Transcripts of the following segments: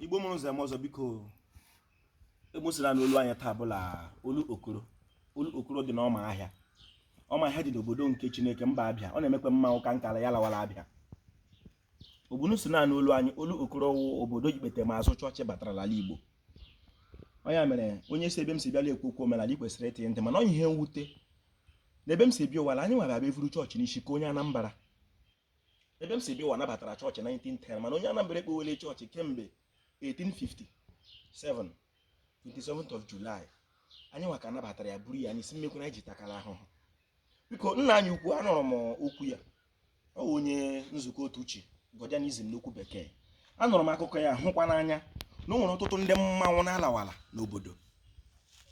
igbo mụrụ ụzọ ọzọ biko emosila na olu anya taa bụla olokoro olokoro dị n'ọma ahịa ọma ahịa dị n'obodo nke chineke mba abịa ọ na-emekwa mma ụka nkara ya lawara abịa ogbunu si naanị olu anyị olokoro wụ obodo ikpete ma azụ chọọchị batara n'ala igbo onye mere onye si ebe m si bịala ekwu okwu omenala ị kwesịrị ịtị ntị mana ọ ihe mwute na ebe m si bịa ụwa anyị nwa abịa evuru chọọchị n'isi ka onye anambara ebe m si bịa ụwa nabatara chọọchị 1910 mana onye Anambra ekpowele chọọchị kemgbe 1857 27th of July anyị nwa ka nabatara ya buru ya n'isi mekwu anyị ji takara ahụhụ biko nna anyị ukwu anụrụ m okwu ya ọ bụ onye nzukọ otu chi Godianism n'okwu bekee anụrụ m akụkọ ya hụkwa n'anya na o nwere ọtụtụ ndị mmanwụ na-alawala n'obodo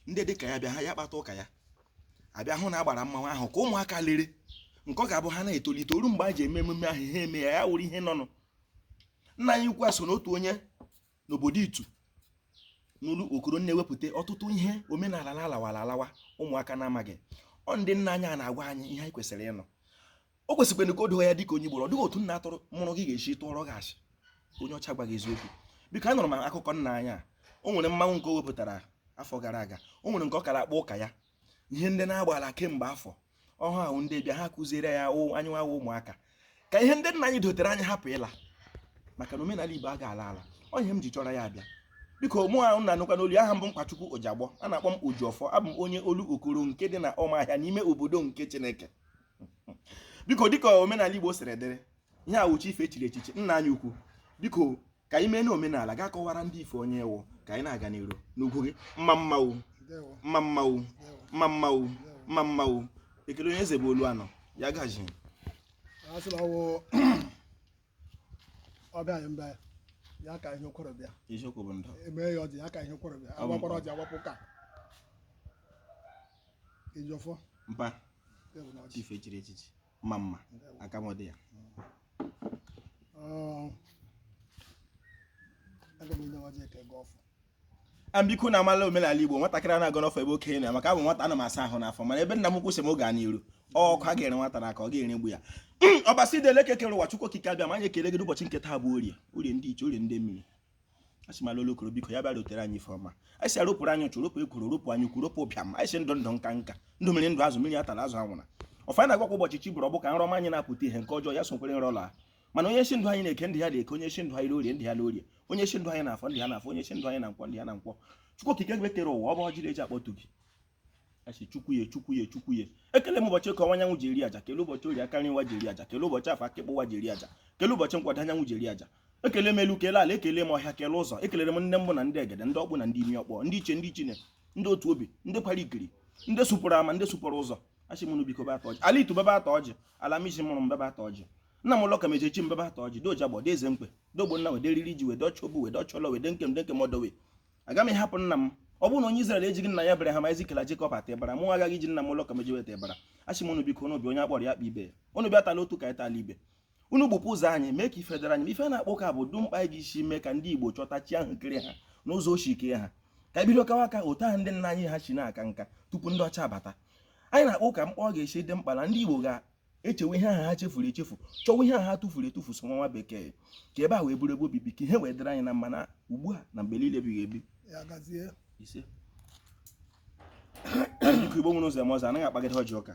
ndị dịka ya bịa ha ya kpata ụka ya abịa hụ na a gbara mmanwụ ahụ ka ụmụaka lere nke ọ ga-abụ ha na-etolite o ruo mgbe a ji eme emume ahụ ha emee ya wụrụ ihe nọnụ nna anyị ukwu a so n'otu onye n'obodo itu n'olokoro na-ewepụta ọtụtụ ihe omenala na-alawara alawa ụmụaka na-amaghị ọ ndị nna anyị a na-agwa anyị ihe anyị kwesịrị ịnụ o kwesịkwara ka o doo ya dịka onye Igbo ọ dịghị otu nna atụrụ mụrụ gị ga-esi tụọrọ gị asị onye ọcha gwa gị eziokwu biko anụrụ m akụkọ nna anyị a o nwere mmanwụ nke o wepụtara afọ gara aga o nwere nke ọ kara akpa ụka ya ihe ndị na-agbala kemgbe afọ ọhụụ ahụ ndị bịa ha kụziere ya anyị nwa ụmụaka ka ihe ndị nna anyị dotere anyị hapụ ịla maka na omenala Igbo a ga-ala ala ọ ihe m ji chọrọ ya abịa biko mụ ahụ na anụkwa n'olu aha m bụ mkpachukwu ojagbọ a na-akpọ m ojiọfọ abụ m onye olokoro nke dị na ọmahịa n'ime obodo nke chineke biko dịka omenala Igbo siri dịrị ihe awụchi ife echiri echichi nna anyị ukwu biko ka anyị mee n'omenala ga kọwara ndị ife onye ewu ka anyị na-aga n'iru n'ugwu gị mma mmanwụ mma mmanwụ mma mmanwụ mma mmanwụ ekele onye eze bụ olu anọ ya gaji ọbịa anyị bịa ya kaa ihe o kworo bịa eziokwu bụ ndụ e mee ya ọjị ya kaa ihe o kworo bịa Ọ bụ agwakwara ọjị agwapụ ka ojiọfọ mpa ya bụ na ọ chiif e chiri echichi mma mma aka m dị ya Ọ, aga m enye ọjị ka ị gọọ ọfọ biko na amala omenala igbo nwatakịrị a na-agọ ọfọ ebe okenye nọ maka abụ m nwata ana m asa ahụ n'afọ mana ebe nna m ukwu sị m gaa n'iru ọkụ a gụnyere nwata n'aka ọ ga-eregbu ya ọbasi dị elu eke kere ụwa chukwu okike abịama anyị ekele gị n'ụbọchị nke taa bụ orie orie ndị ichie orie ndị mmiri asị m ala olokoro biko ya bịa rotere anyị ife ọma anyị sị ya ropụrụ anyị ụchụ ropụ ekworo ropụ anya ukwu ropụ ụbịam anyị sị ndụ ndụ nka nka ndụ mmiri ndụ azụ mmiri atala azụ anwụna ọfa na-agwakwa ụbọchị chi bọrọ ọ bụ ka nrọ ọma anyị na-apụta ihe nke ọjọọ ya sokwara nrọ laa mana onye sị ndụ anyị n'eke ndụ ya n'eke onye sị ndụ anyị n'orie ndụ ya n'orie onye sị ndụ anyị n'afọ ndụ ya n'afọ onye sị ndụ anyị na nkwọ ndụ ya na nkwọ chukwu okike gị kere ụwa ọ bụ ọjị na-eji akpọtu gị asị chukwu ya chukwu ya chukwu ya ekele m ụbọchị eke ọwụwa anyanwụ ji eri aja kele ụbọchị orie aka nri ụwa ji eri aja kele ụbọchị afọ aka ịkpa ụwa ji eri aja kele ụbọchị nkwọ ọdịda anyanwụ ji eri aja ekele m elu kele ala ekele m ọhịa kele ụzọ ekelere m ndị mbụ na ndị egede ndị ọkpụ na ndị imi ọkpọ ndị ichie ndị ichine ndị otu obi ndị kwara ikiri ndị sụpụrụ ama ndị sụpụrụ ụzọ asị m ụnụ biko bịa taa ọjị ala Itu bịa bịa taa ọjị ala Amizi mụrụ m bịa bịa taa ọjị nna m ụlọ ka meje chi m bịa bịa taa ọjị doja gbọ deze mkpe dee Ogbonna wede riri ji wede ọchọ obu wede ọchọlọ wede nkem de nkem ọdọwe aga m ịhapụ nna m ọ bụrụ na onye Izrel ejighị nna ya Ebreham Aịzik la Jekọb ata ịbara mụ agaghị iji nna m ụlọ ka meje weta ịbara asị m ụnụ biko na ọ bụ onye a kpọrọ ya kpọọ ibe ya ụnụ bịa taa l'otu ka anyị taa l'ibe unu gbupụ ụzọ anyị mee ka ife dịrị anyị ife na-akpa ụka bụ ọ dị mkpa anyị ga-esi mee ka ndị Igbo chọta chi ahụ kere ha n'ụzọ o si kee ha ka e bido kawa nka otu ahụ ndị nna anyị ha si na-aka nka tupu ndị ọcha bata anyị na-akpa ụka mkpa ọ ga-esi dị mkpa na ndị Igbo ga-echewe ihe ahụ ha chefuru echefu chọwa ihe ahụ ha tụfuru etufu so nwa bekee ka ebe a wee bụrụ ebe obibi ka ihe wee dịrị anyị na mma na ugbu a na mgbe niile ebighị ebi Igbo nwere ụzọ eme ọzọ anaghị akpagide ọjị ụka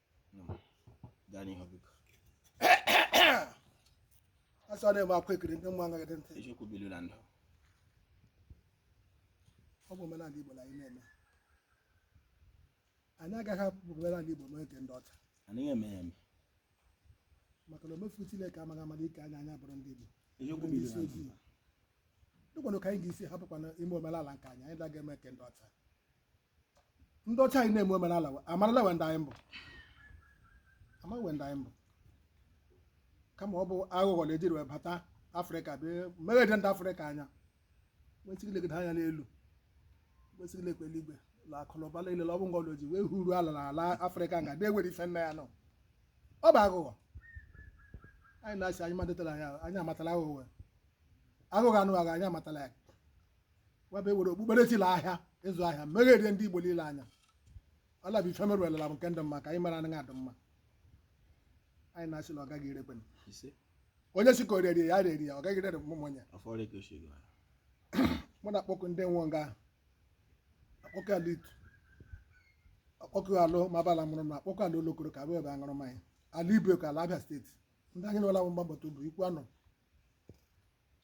asị ọ na-eme akwa ekiri ndị mma agaghị dị ntị eziokwu bilu na ndụ ọ bụ omenala Igbo na anyị na-eme anyị agaghị ahapụ omenala Igbo mee nke ndị ọcha anaghị eme ya eme maka na omefu Chineke amaghị amara kee anyị anyị abụrụ ndị Igbo eziokwu bilu na ndụ dịkwanụ ka anyị ga-esi hapụkwana ime omenala nke anyị anyị daghị eme nke ndị ọcha ndị ọcha anyị na-eme omenala wa- amarala we ndị anyị bụ a ma we ndị anyị bụ kama ọ bụ aghụghọ na ejiri wee bata afrịka bịa megherie ndị afrịka anya nwesịrị ilegide anya n'elu nwesịrị ilekpe eluigwe la akụnụba niile ọ bụ ngọlụ ji wee huru ala na ala afrịka nga na-enwere ife nna ya nọ ọ bụ aghụghọ anyị na-asị anyị madetara anya anyị amatala aghụghọ aghụghọ ụnụ aghọ anyị amatala ya webe were okpukperechi la ahịa ịzụ ahịa megherie ndị Igbo niile anya ọ la-abụ ife e mere l'ala bekee adị mma ke anyị mere anaghị adị mma anyị na-asị na ọ gaghị erekwe m. ise onye sị ka o rere ya rere ya ọ gaghị rere m onye afọ ole ka o si gara mụ na-akpọku ndị nwe nga ahụ akpọku ala Itu akpọku ala mabala mụrụ na akpọku ala Olokoro ka abụ ebe aṅụrụ mmanya ala Ibeku ala Abịa steeti ndị anyị nwela bụ mgbabata bụ Ikwuano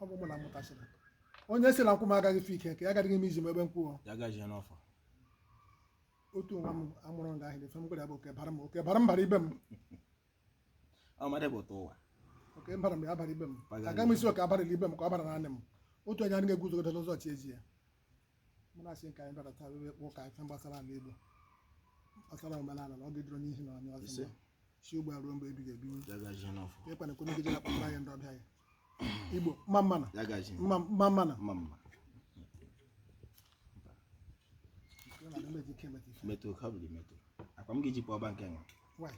ọ bụ ụmụnna mụtasịrị onye sị na nkwụ m agaghị fi ike ka ya agaghị m izi m ebe m kwuo ya gaghị ya n'ọfọ otu nwa m amụrụ nga ahụ efe m gwara ya bụ oke bara m oke bara m bara ibe m ọ mmadụ bụ ụtọ ụwa oke m bara m ya bara ibe m agaghị m ịsị oke abarala ibe m ka ọ bara naanị m otu onye anaghị eguzogide n'ụzọ chi ezi ya mụ na-asị nke anyị bịara taa wee kpọọ ka ife gbasara ala Igbo gbasara omenala na ọ ga-edoro n'ihi na onye ọzọ Ise. mgbe si ugbu a ruo mgbe ebighị ebi Dagaji n'ọfọ. ịkwana ekwe megide akpakpọ anyị ndị ọbịa anyị Igbo mma mma na Dagaji. mma mma mma na Mma mma. Ọ na-adị mma eji ike emeta ife. Metụ ka ọ bụrụ metụ. Akwa m ga-eji pụọ ọba nke nwa. Why?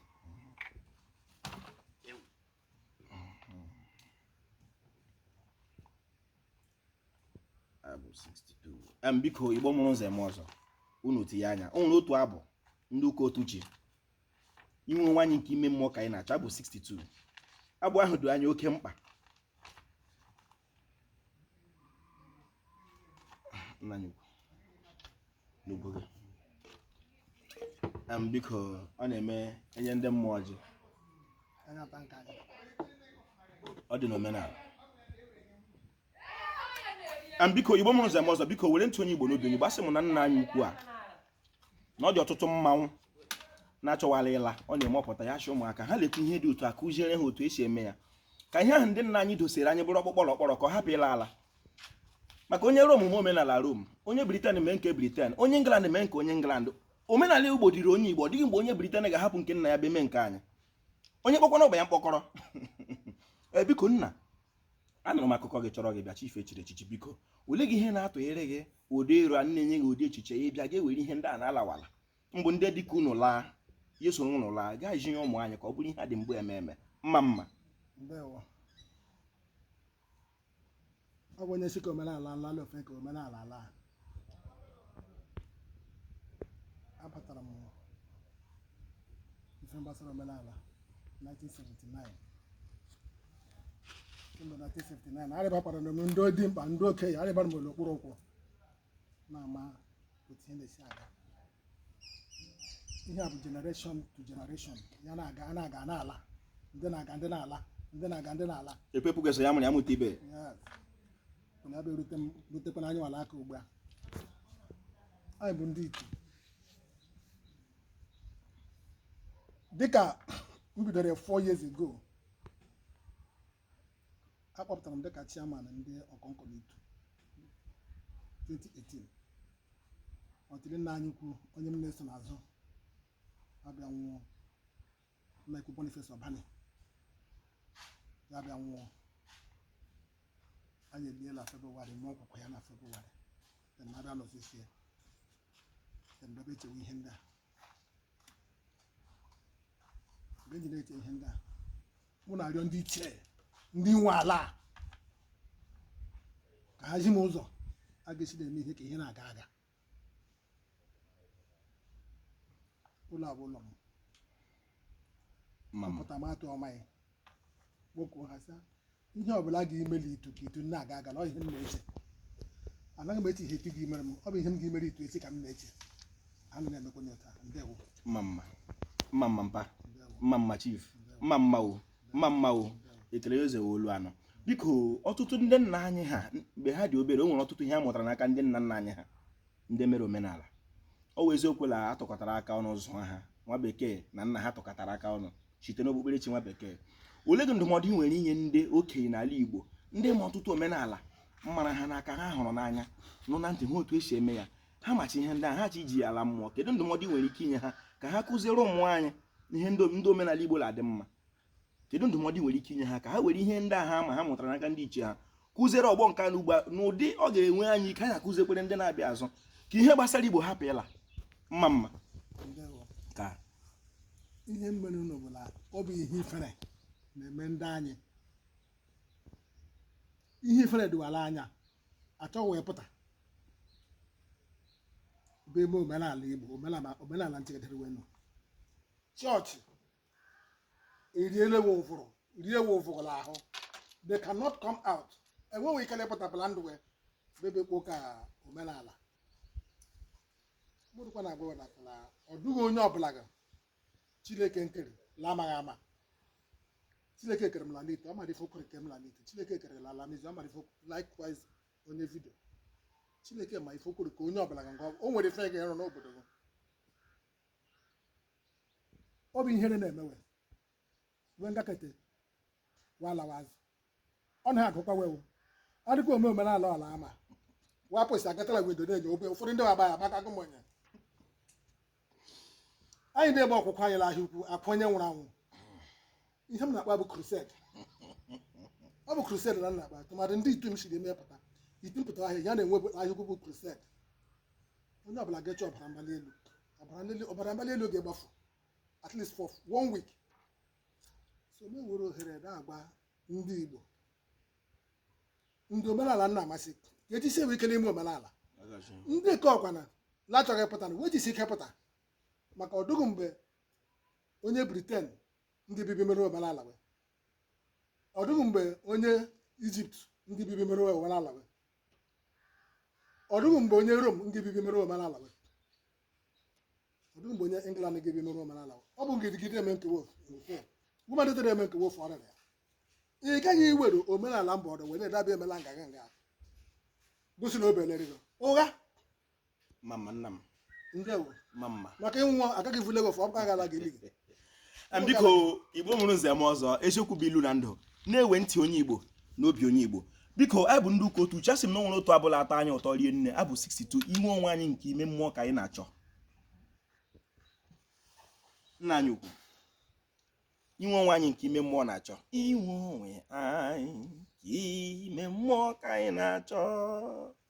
abụ 62 biko igbo mụrụ nze mụọ ọzọ unu tinye anya o nwere otu abụ ndị ụka otu ji inwe nwaanyị nke ime mmụọ ka anyị na-achọ abụ 62 abụ ahụ dị anyị oke mkpa nna n'ugbo gị em biko ọ na-eme enye ndị mmụọ ọjị ọ dị n'omenala em biko igbo mụrụ nze mụọ ọzọ biko were ntụ onye igbo n'obi onye gbasị m na nna anyị ukwu a na ọ dị ọtụtụ mmanwụ na-achọwala ịla ọ na-eme ọpụta ya chụ ụmụaka ha lekwa ihe dị otu a kụziere ha otu esi eme ya ka ihe ahụ ndị nna anyị dosere anyị bụrụ ọkpụtọrọkpụ ka ọ hapụ ịla ala maka onye Rom ma omenala Rom onye Britain mee nke Britain onye England mee nke onye England omenala Igbo dịrị onye Igbo ọ dịghị mgbe onye Britain ga-ahapụ nke nna ya bịa mee nke anyị onye kpọkwana ọba ya mkpọkọrọ eh, biko nna anụrụ m akụkọ gị chọrọ gị bịa chife chiri echichi biko ole gị ihe na-atụnyere gị ụdị ịrụ a na-enye gị ụdị echiche ya bịa ga ewere ihe ndị a na-alawala mbụ ndị dịka unu laa ya soro unu laa gaa ji ihe ụmụ anyị ka ọ bụrụ ihe a dị mgbe eme eme mma mma ọ bụ onye sị ka omenala ala ala ofe ka omenala ala a. abatara m ife gbasara omenala 1979 kemgbe 1979 arịbakwara m ndị dimkpa ndị okenye arịbara m n'okpuru ụkwụ na-ama otu ihe na-esi aga ihe a bụ generation to generation ya na-aga a na-aga na-ala ndị na-aga ndị na-ala ndị na-aga ndị na-ala epepụ gesa ya mụrụ ya mụta ibe ya bụ erute m rutekwana anyị n'aka ugbu a anyị bụ ndị iti dịka m bidoro four years ago a kpọpụtara m dịka chairman ndị ọkọnkọ n'Itu 2018 until nna anyị ukwu onye m na-eso n'azụ abịa nwụọ nna ukwu Boniface Obani ya abịa nwụọ anyị eliela Febụwarị ma okwukwu ya na Febụwarị then abịa nọzisie then bịa chewe ihe ndị a mgbe e ji na-eche ihe ndị a mụ na-arịọ ndị ichie ndị nwe ala a ka ha zi m ụzọ a ga-esi na-eme ihe ka ihe na-aga aga ụlọ a bụ ụlọ m ma m pụta m atụọ mmanya kpọkuo ha sị ihe ọbụla a ga-imeli itu ka itu na-aga aga na ọ ihe m na-eche anaghị m eche ihe itu gị mere m ọ bụ ihe m ga-emere itu echi ka m na-eche ana m emekwa ya taa ndewo mma mma mma mma mpa ndewo mma mma chief mma mma o mma mma o ekele ya eze wee olu anọ biko ọtụtụ ndị nna anyị ha mgbe ha dị obere o nwere ọtụtụ ihe a mụtara n'aka ndị nna nna anyị ha ndị mere omenala ọ wụ eziokwu na a tụkọtara aka ọnụ zụọ ha nwa bekee na nna ha tụkọtara aka ọnụ site n'okpukperechi nwa bekee olee gị ndụmọdụ ị nwere inye ndị okenye n'ala Igbo ndị ma ọtụtụ omenala mara ha n'aka ha hụrụ n'anya nụ na ntị ha otu esi eme ya ha macha ihe ndị a ha chọ iji ya ala mmụọ kedu ndụmọdụ ị nwere ike inye ha ka ha kụziere ụmụ anyị ihe ndị omenala Igbo na-adị mma kedu ndụmọdụ ị nwere ike inye ha ka ha were ihe ndị a ha ma ha mụtara n'aka ndị ichie ha kụziere ọgbọ nke a nọ ugbu a n'ụdị ọ ga-enwe anyị ike anyị akụziekwara ndị na-abịa n'azụ ka ihe gbasara Igbo hapụ ịla mma mma ihe merenụ bụ na ọ bụ ihe ifere na-eme ndị anyị ihe ifere dị wa l'anya achọ we pụta bịa eme omenala Igbo omenala omenala nchegidere wee nọ church eriele we ụvụrụ rie we ụvụrụ n'ahụ they cannot come out enweghị ike lepụtapụla ndụ wee bebe kpo ka omenala mụrụkwa na-agwa na na ọ dụghị onye ọbụla ga chineke nkere la amaghị ama chineke kere m lalite ọ mara ife o kworo kee m lalite chineke kere la alamizi ọ mara ife likewise onye vidio chineke ma ife o kworo kee onye ọbụla ga ngwa o nwere ife ga ịrụ n'obodo gị ọ bụ ihere na-eme we we gakata we alawa azụ ọ na ha agụkwa wewu ọ dịkwa ome omenala ọla ama wapụsị agatala wee dodo enyo obe ụfọdụ ndị waba ya maka agụm onye anyị na-egbe ọkwụkwụ anyị n'ahịa ukwu akwa onye nwụrụ anwụ ihe m na-akpọ bụ crusade ọ bụ crusade ka m na-akpọ tụmadị ndị itu m siri emepụta itu mpụta ahịa ya na-enwe bụ ahịa ukwu bụ crusade onye ọbụla ga-eche ọbara mgbali elu ọbara nlele- ọbara mgbali elu ga-agbafu at least for one week so m nwere ohere na-agba ndị Igbo ndị omenala na-amasị ka e jisiwe ike n'ime omenala ndị nke ọkwana na-achọghị ịpụta na we jisie ike pụta maka ọdụghị mgbe onye Britain ga-abịa bịa mere we omenala we ọdụghị mgbe onye Egypt ga-abịa bịa mere we omenala we ọdụghị mgbe onye Rome ga-abịa bịa mere we omenala we ọ dị mgbe onye England ga-ebi n'ụlọ omenala ọ bụ gidigide eme nke wo woman dịtara eme nke wo ofu ọrịa ya ị gaghị iwere omenala mba ọdọ wee na-edabi emela nga nga nga gosi na obelere gị ụgha mma mma nna m ndewo mma mma maka ịnwụ agaghị vule gị ofu ọ bụka gara gị ili gị Em, biko igbo mụrụ nze mụọ ọzọ eziokwu bụ ilu na ndụ na-ewe ntị onye igbo na obi onye igbo biko anyị bụ ndị ụka otu uche asị m na o nwere otu abụ la-atọ anyị ụtọ rie nne abụ 62 inwe onwe anyị nke ime mmụọ ka anyị na-achọ nna anyị ukwu inwe onwe anyị nke ime mmụọ na-achọ inwe onwe anyị nke ime mmụọ ka anyị na-achọ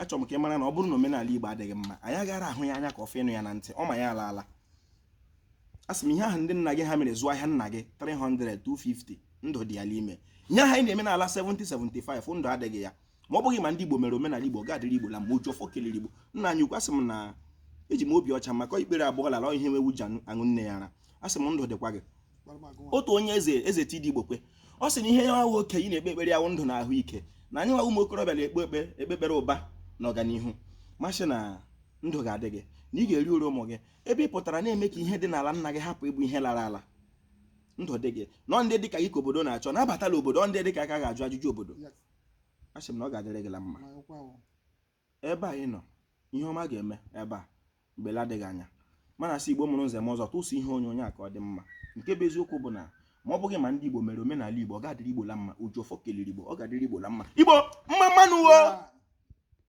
achọrọ m ka ị mara na ọ bụrụ na omenala Igbo adịghị mma anyị agaraghị ahụ ya anya ka ọ fọ ịnụ ya na ntị ọ ma ya ala ala a sị m ihe ahụ ndị nna gị ha mere zụọ ahịa nna gị 300 250 ndụ dị ya n'ime ihe ahụ anyị na-eme na-ala 70 75 ndụ adịghị ya ma ọ bụghị ma ndị Igbo mere omenala Igbo ga-adịrị Igbo la mma oji ọfọ kelere Igbo nna anyị ukwu asị m na eji m obi ọcha maka ikpere abụọ l'ala ihe nwa ewu ji aṅụ nne ya ara asị m ndụ dịkwa gị otu onye eze eze TD Igbokwe ọ sị na ihe ya nwa wụ okenye na-ekpe ekpere ya wụ ndụ na ahụike na anyị nwa ụmụ okorobịa na-ekpe ekpere ụba na ọganihu m asị na ndụ ga-adị gị na ị ga-eri uru ụmụ gị ebe ị pụtara na-eme ka ihe dị n'ala nna gị hapụ ịbụ ihe lara ala ndụ dị gị na ọ ndị dịka gị ka obodo na-achọ nabatala obodo ọ ndị dịka aka ga-ajụ ajụjụ obodo asị m na ọ ga-adịrị gị la mma ebe a ị nọ ihe ọma ga-eme ebe a mgbe adịghị anya mana asị igbo mụrụ nze mụọ ọzọ tụsụ ihe onyonyo a ka ọ dị mma nke bụ eziokwu bụ na ma ọ bụghị ma ndị igbo mere omenala igbo ọ ga-adịrị igbo la mma oji ọfọ keliri igbo ọ ga-adịrị igbo la mma igbo mma mma nụ